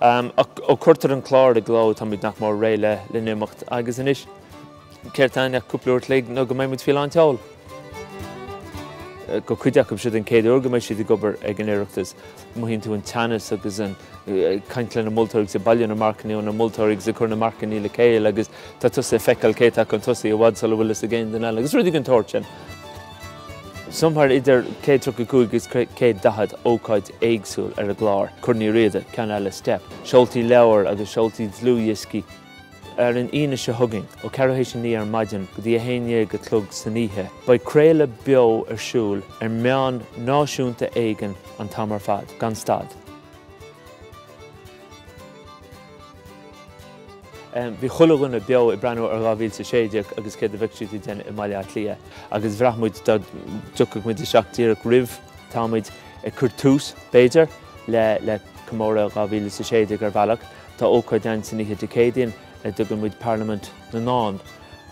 Ach ó cuireadh an clár i gcló táimid nach mór réidh le n-imeacht agus anois céard tá ann ach cúpla uair a chloig nó go mbeidh muid faoi lán tseol. Do chuid acu seo é an chéad uair go mbeidh siad ag obair ag an Oireachtas. Mothaíonn tú an teannas agus ag caint leis na moltóirí agus ag bailiú na marcanna ó na moltóirí agus ag cur na marcanna le chéile agus tá tusa ag feiceáil cé atá chun tosaigh i bhfad sula bhfuil a fhios ag aon duine eile agus rudaí den tsórt sin. Somewhere idir 135 agus 140 ócáid éagsúil ar an gclár, Corn Uí Riada, ceann eile Steip, seoltaí leabhar agus seoltaí dlúthdhioscaí. Ar an Aoine seo chugainn, ó ceathrú tar éis a naoi ar maidin go dtí a haon déag a chlog san oíche, beidh craoladh beo ar siúl ar meán náisiúnta éigin an t-am ar fad, gan stad. Bhí chuile dhuine beo ag breathnú ar dhá mhíle is a sé déag agus céard a bheadh siad ag déanamh i mBaile Átha Cliath agus bhraith muid dá dtiocfadh muid isteach díreach roimhe, tá muid ag cur tús, b'fhéidir, le comóradh dhá mhíle is a sé déag ar bhealach. Tá ócáid ann san oíche Dé Céadaoin ar a dtugann muid Parlaimint na nDán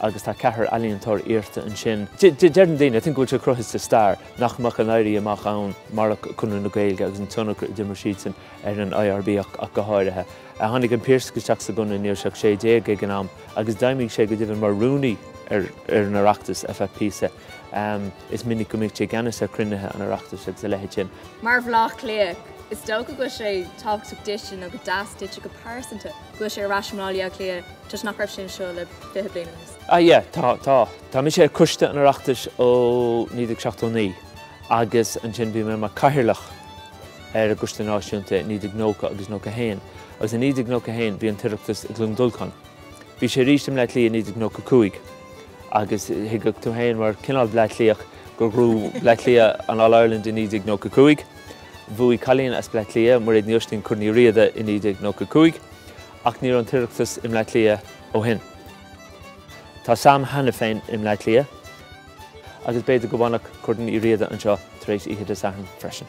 agus tá ceathrar ealaíontóir iarrta ansin. Deireann daoine, I think, go bhfuil sé cruthaithe sa stair nach mbeadh an Éirí Amach ann marach Conradh na Gaeilge agus an tionchar a d'imir siadsan ar an IRB ach go háirithe. Tháinig an Piarsach isteach sa gConradh ní raibh sé ach 16 ag an am agus d'fheidhmigh sé go deimhin mar rúnaí ar an Oireachtas, ar feadh píosa. Is minic go mbíodh sé i gceannas ar chruinnithe an Oireachtais agus a leithéid sin. Mar Bhleá Cliathach, is dócha go bhfuil sé tábhachtach duitse, nó go deas duitse go pearsanta, go bhfuil sé ar ais i mBleá Cliath toisc nach raibh sé anseo le fiche bliain anuas. Ah yeah, tá, tá. Tá mise ar choiste an Oireachtais ó 1979 agus ansin bhí mé mar Chathaoirleach. ar an gCoiste Náisiúnta i 1990 agus 91 agus i 1991 bhí an tOireachtas i gCluain Dolcáin. Bhí sé arís i mBleá Cliath i 1995 agus thuigfeadh tú féin mar chineál Bleá Cliathach gur ghnóthaigh Bleá Cliath an All Ireland i 1995. Bhuaigh cailín as Bleá Cliath, Mairéad Ní Oistín, Corn Uí Riada i 1995 ach ní raibh an tOireachtas i mBleá Cliath ó shin. Tá Sam cheana féin i mBleá Cliath. Agus b'fhéidir go bhfanfadh Corn Uí Riada anseo tar éis oíche Dé Sathairn freisin.